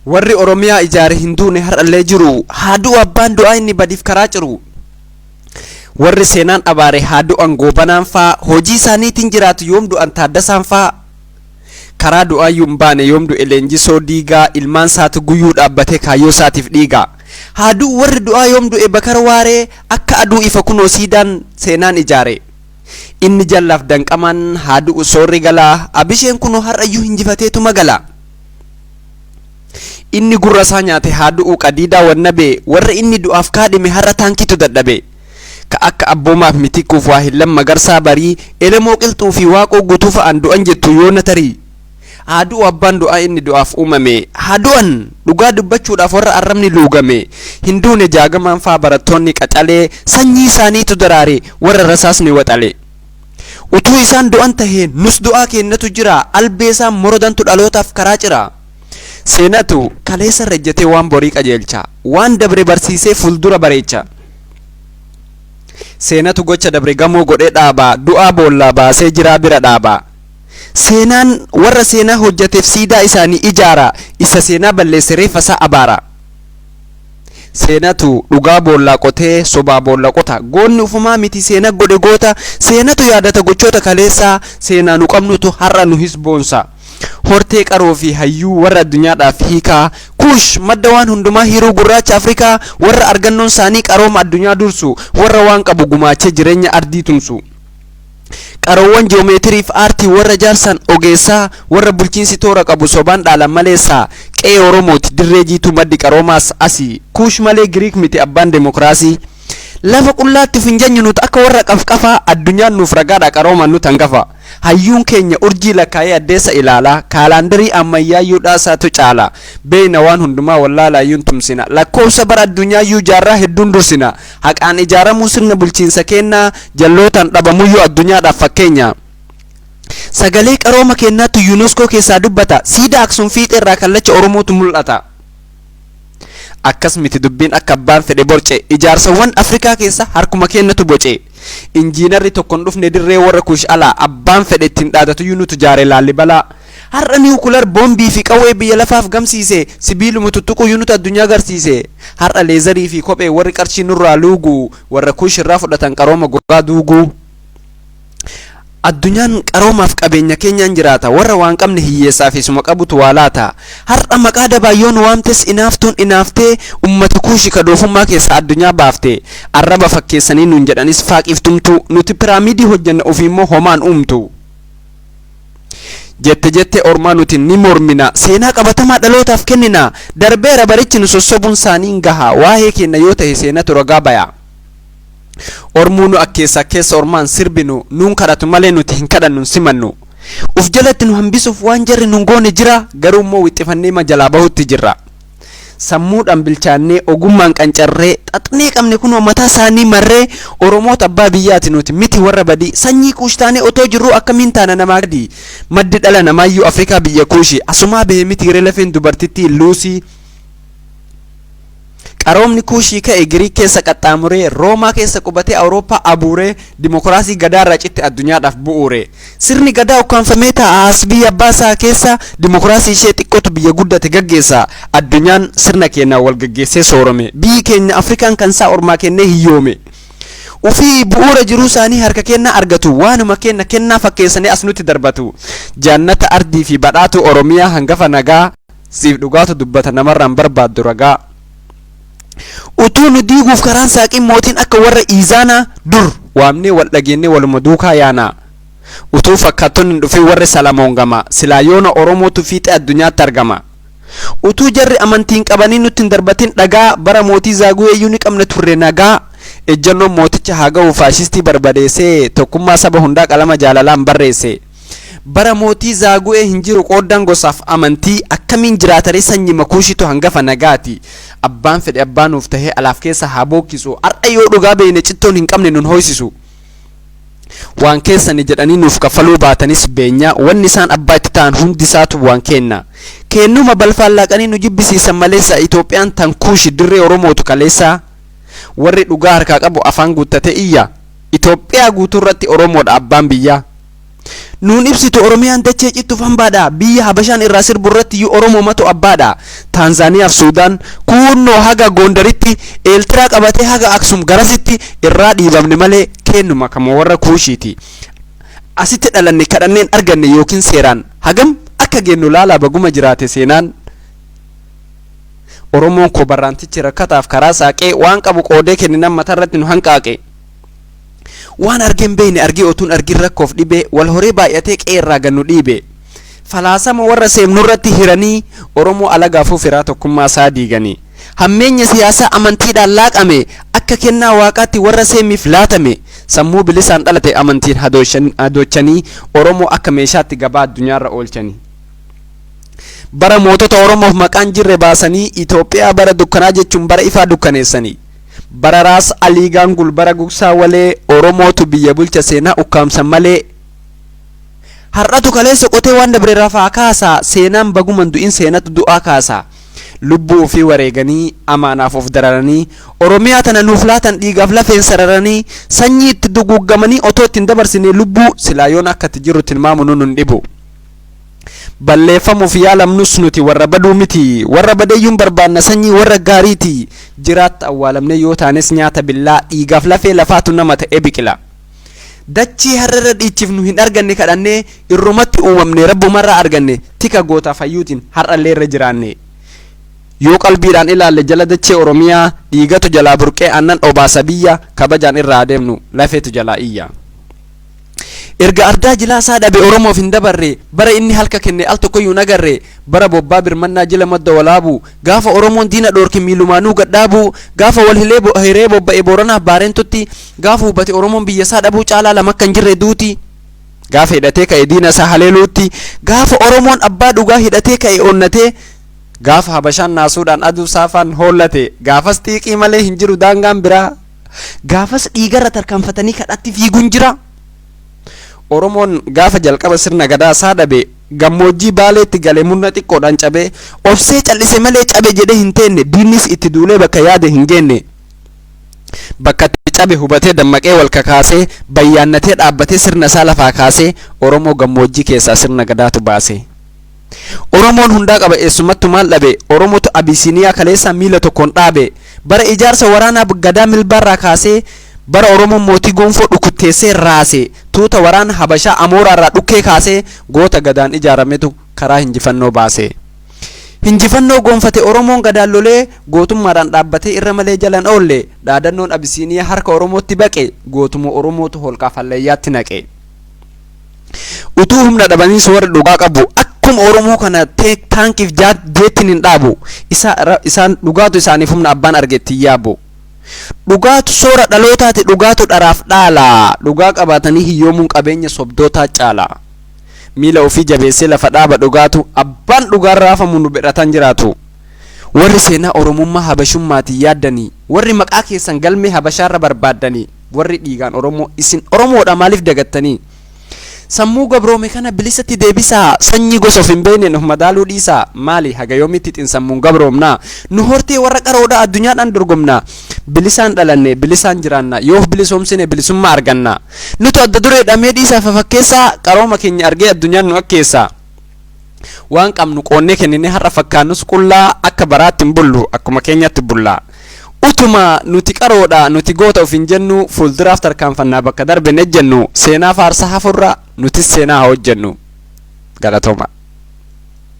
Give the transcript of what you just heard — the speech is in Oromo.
Warri Oromiyaa ijaare hin duune har'allee jiru. Haa du'u abbaan du'aa inni badiif karaa ciru. Warri seenaan abaare haa du'an goobanaan faa hojii isaaniitiin jiraatu yoom du'an taaddasaan faa. Karaa du'aayyuu hin baane yoom du'e leenjisoo diigaa ilmaan isaatu guyyuu dhaabbatee kaayyoo isaatiif dhiiga. Haa du'u warri du'aa yoom du'e bakar waaree akka aduu ifa kunoo siidaan seenaan ijaare. Inni jallaaf danqamaan haa du'u soorri galaa abisheen kunoo har'ayyuu hinjifateetuma gala. Inni gurra isaa nyaate haa du'u qadiidaa wannabee warra inni du'aaf kaadhime har'a taankiitu dadhabe. Ka akka Abboomaaf Mitikkuuf Waahillan Magarsaa Barii, Elemoo Qilxuu fi Waaqoo Guutuu fa'aan du'an jettu yoona tarii. Haa du'u abbaan du'aa inni du'aaf uumame. Haa du'an! Dhugaa dubbachuudhaaf warra arrabni luugame. Hin duune Jaagamaan fa'aa barattoonni qaxalee, sanyii isaaniitu daraare warra rasaasni waxale. Utuu isaan du'an tahee nus du'aa keennatu jira, albee isaan morodantu dhalootaaf karaa cira. Seenatu kaleessa irra ejjetee waan borii qajeelcha, waan dabre barsiisee fuldura bareecha. Seenatu gocha dabre gamoo godhee dhaaba, du'aa boollaa baasee jiraa bira dhaaba. Seenaan warra seenaa hojjeteef siidaa isaanii ijaara, isa seenaa balleesse reeffa isaa abaara. Seenatu dhugaa boollaa qotee sobaa boolla qota. Goonni ufumaa miti seena godhe goota. Seenatu yaadata gochoota kaleessaa. Seenaa nu qabnutu har'a nu his boonsa. Hortee qaroo fi hayyuu warra addunyaadhaaf hiikaa. Kuush madda waan hundumaa hiruu gurraacha Afrikaa. Warra argannoon saanii qarooma addunyaa dursu. Warra waan qabu gumaachee jireenya ardii tumsu. Qaroowwan joomeetirii fi aartii warra jaarsaan ogeessaa warra bulchiinsi toora qabu sobaan dhaalan maleessaa qe'ee Oromooti dirree jiituu maddi qaroomaas asi Kuush malee Giriik miti abbaan demookraasii Lafa qullaatti of hin janyu nuti akka warra qafqafaa addunyaan nuuf ragaadha qaroomaan nuti hangafa Hayyuun keenya urjii lakkaa'ee addeessa ilaala kaalaandarii ammayyaayyuu dhaasaatu caala Beeyna waan hundumaa wallaalaayyuu hin tumsina Lakkoofsa bara addunyaayyuu jaarraa hedduun dursina Haqaan ijaaramuu sirna bulchiinsa keennaa jallootaan dhabamuyyuu addunyaadhaaf fakkeenya. Sagalee qarooma keennaatu Unesco keessaa dubbata. Siidaa Aksum fiixee irraa kallacha Oromootu mul'ata. Akkas miti dubbiin akka abbaan fedhe borce. Ijaarsawwan Afrikaa keessa harkuma keennatu boce. Injiinarri tokko hin dhufne dirree warra kuush alaa. Abbaan fedhe ittiin dhaadatuyyuu nutu jaare Laallibalaa. Har'a niwukilar boombii fi qawwee biyya lafaaf gamsiise, sibiiluma tuttuquu yuunita addunyaa garsiise. Har'a leezarii fi kophee warri qarshii nurraa luugu, warra Kuush irraa fudhatan qarooma gogaa duugu. Addunyaan qaroomaaf qabeenya keenyaan jiraata, warra waan qabne hiyyeessaa fi suma qabutu waa laata. Har'a maqaa dabaan yoo nu waamtes inaaftuun inaaftee ummata Kuushi ka doofummaa keessaa addunyaa baafte. Arraba fakkeessanii nuun jedhanis faaqiif tumtu, nuti piraamiidii hojjenna ofiimmoo homaan uumtu. Jette jettee ormaa nuti ni mormina, seenaa qabatamaa dhalootaaf kennina. Darbeera barichi nu sossobuun saanii hin gaha. Waahee keenna yoo tahe seenatu ragaa baya. Ormuu nu akkeessa akkeessa ormaa hin sirbinu, nuun kadhatu malee nuti hin kadhannu hin simannu. Uf jalatti nu hambisuuf waan jarri nun goone jira, garuu immoo wixxifanneema jalaa bahutti jirra. Sammuudhaan bilchaannee, ogummaan qancarree, xaxnee qabne kunoo mataa isaanii marree, Oromoota abbaa biyyaati nuti, miti warra badii. Sanyii Kuush taanee otoo jirruu akkamiin taana namaa gadi? Maddi dhala namaayyuu Afrikaa biyya Kuushi. Asumaa bahe mitiiree lafeen dubartittii Luusii? Qaroomni Kuushii ka'e Giriik keessa qaxxaamuree, Roomaa keessa qubatee Awurooppaa abuuree, dimokiraasii Gadaarraa citte addunyaadhaaf bu'uure. Sirni Gadaa ukkaamfamee taa'a as biyya abbaa isaa keessa dimokiraasii ishee xiqqootu biyya guddate gaggeessa. Addunyaan sirna keenyaan wal gaggeessee soorome. Biyyi keenya Afrikaan kan isaa ormaa kennee hiyyoome. Ufii bu'uura jiruu isaanii harka keenyaa argatu. Waanuma keenya kennaa fakkeessanii as nutti darbatu. Jaannata ardii fi badhaatuu Oromiyaa hangafa nagaa. Siif dhugaatu dubbata namarraan barbaaddu ragaa. Utuu nu diiguuf karaan saaqin mootiin akka warra Iizaanaa dur waamnee wal dhageennee waluma duukaa yaanaa. Utuu fakkaattonni hin dhufin warri Salamoon gamaa silaa yoona Oromootu fiixee addunyaatti argama. Utuu jarri amantii hin qabanii nutti hin darbatin dhagaa bara mootii Zaaguweeyyuu ni qabna turre nagaa ejjannoon mooticha haa ga'u faashistii barbadeessee tokkummaa saba hundaa qalama jaalalaan barreesse. Bara mootii Zaagu'ee hin jiru qooddaan gosaaf amantii akkamiin jiraataree sanyima kuushitu hangafa nagaati abbaan fedhe abbaa nuuf tahee alaaf keessa haa bookkisu har'a yoo dhugaa beeyne cittoon hin qabne nun hooysisu waan keessani jedhanii nuuf kaffaluu baatanis beenya wanni isaan abbaa itti ta'an hundi isaatu waan keenna keennuma balfaan laaqanii nu jibbisiisan maleessa Itoophiyaan tan kuushi dirree Oromootu kaleessaa warri dhugaa harkaa qabu afaan guuttatee iyya Itoophiyaa guutuurratti Oromoodha abbaan biyyaa. Nuun ibsitu Oromiyaan dachee cittuuf hambaadha. Biyya Habashaan irraa sirbu irrattiyyuu Oromoomatu abbaadha. Taanzaaniyaaf Suudaan, kuunnoo haga Goondaritti, Eeltiraa qabatee haga Aksum garasitti irraa dhiibamne malee keennuma kama warra Kuushiiti. Asitti dhalanne kadhanneen arganne yookiin seeraan hagam akka geennu laalaa baguma jiraate seenaan. Oromoon koo barraantichi rakkataaf karaa saaqee waan qabu qoodee kenninaan matarratti nu hanqaaqe. Waan argee hin beekne argee otuun argin rakkoof dhibee wal horee baay'atee qe'ee irraa gad nu dhiibee. Falaasama warra seemnu irratti hiranii Oromoo alagaafuu firaa tokkummaa isaa diiganii. Hammeenya siyaasaa amantiidhaan laaqame akka kennaa waaqaatti warra seemiif laatame sammuu bilisaan dhalate amantiin hadoochanii Oromoo akka meeshaatti gabaa addunyaa irra oolchanii. Bara mootota Oromoof maqaan jirre baasanii Itoophiyaa bara dukkanaa jechuun bara ifaa dukkaneessanii. Bararaas Aliigaan Gulbara Gugsaa Walee Oromootu biyya bulcha seenaa ukkaamsan malee Har'atu kaleessa qotee waan dabre rafaa kaasaa Seenaan baguman du'in seenatu du'aa kaasa Lubbuu ofii wareeganii amaanaaf of dararanii Oromiyaa tana nuuf laatan dhiigaaf lafeen sararanii Sanyii itti duguuggamanii otoo itti hin dabarsinee lubbuu Silaa yoona akka itti jirru tilmaamunuu nun dhibu balleeffamuuf yaalamnus nuti warra baduu miti, warra badeyyuun barbaanna sanyii warra gaariiti, jiraatta awwaalamnee yoo taanes nyaata billaa, dhiigaaf lafee lafaatu nama ta'ee biqila. Dachii harrarra dhiichifnu hin arganne kadhannee, irrumatti uumamne Rabbumarraa arganne, tika gootaaf hayyuutiin har'allee irra jiraanne. Yoo qalbiidhaan ilaalle jala dachee Oromiyaa, dhiigatu jalaa burqee aannan obaasa biyya, kabajaan irra haa deemnu lafeetu jalaa iyya. Erga ardaa jilaa isaa dhabe Oromoof hin dabarre, bara inni halka kenne al tokkoyyuu hin agarre, bara bobbaa birmannaa jila madda walaabuu, gaafa Oromoon diina dhoorke miilumaanuu gad dhaabuu, gaafa wal hilee bo hiree bobba'e Booranaaf Baarentutti, gaafa hubate Oromoon biyya isaa dhabuu caalaa lama akka hin jirre duuti, gaafa hidhatee ka'e diina isaa haleeluutti, gaafa Oromoon abbaa dhugaa hidhatee ka'e onnatee, gaafa Habashaan naasuudhaan aduu saafaan hoollate, gaafas xiiqii malee hin jiru daangaan biraa. Gaafas dhiigarra tarkaanfatanii kadhatti fiiguun jira. Oromoon gaafa jalqaba sirna gadaa isaa dhabe, gammoojjii Baaleetti gale murna xiqqoodhaan cabe, obsee cal'ise malee cabe jedhee hin teenne, diinnis itti duulee bakka yaade hin geenne. Bakka itti cabe hubatee dammaqee wal kakaasee, bayyaannatee dhaabbatee sirna isaa lafaa kaasee, Oromoo gammoojjii keessaa sirna gadaatu baase. Oromoon hundaa qaba eessumattu maal dhabe Oromotu Abisiiniyaa kaleessaa miila tokkoon dhaabe Bara ijaarsa waraanaa Gadaa Milbaarraa kaasee Bara Oromoon mootii Gonfoo dhukutteessee raase Tuuta waraana Habashaa Amooraarraa dhukkee kaasee Goota Gadaan ijaarametu karaa hinjifannoo baase Hinjifannoo goonfate Oromoon Gadaan lolee Gootummaadhaan dhaabbatee irra malee jala hin oolle Dhaadannoon Abisiiniyaa harka Oromootti baqe Gootuma Oromootu holqaaf hallayyaatti naqe. utuu humna dhabanii soorri dhugaa qabu akkuma oromoo kana teek taankiif jaat jeettiin hin dhaabu isa ra- isaan dhugaatu isaaniif humna abbaan argeetti hin yaabu dhugaatu soora dhalootaati dhugaatu dharaaf dhaala dhugaa qabaatanii hiyyoomuun qabeenya sobdootaa caala miila ofii jabeessee lafa dhaaba dhugaatu abbaan dhugaan raafamu nu birataan jiraatu warri seenaa oromummaa habashummaatiin yaaddanii warri maqaa keessan galmee habashaarra barbaaddanii warri dhiigaan oromoo isin oromoodha maaliif dagattanii sammuu gabroome kana bilisatti deebisaa sanyii gosa of hin beekneen of madaaluu dhiisaa maali haga yoomitti xinsammuun gabroomnaa nu hortee warra qaroodha addunyaadhaan dorgomnaa bilisaan dhalanne bilisaan jiraanna yoo of bilisoomsine bilisummaa arganna nutu adda duree dhamee dhiisaa fafakkeessaa qarooma keenya argee addunyaan nu akkeessaa waan qabnu qoonnee kenninee har'a fakkaannus qullaa akka baraatti hin bullu akkuma keenyatti bulla utuma nuti qaroodha nuti goota ofiin jennu fuulduraaf tarkaanfannaa bakka darbe hin ejjennu seenaa faarsaa hafurra nutis seenaa haa hojjennu galatooma.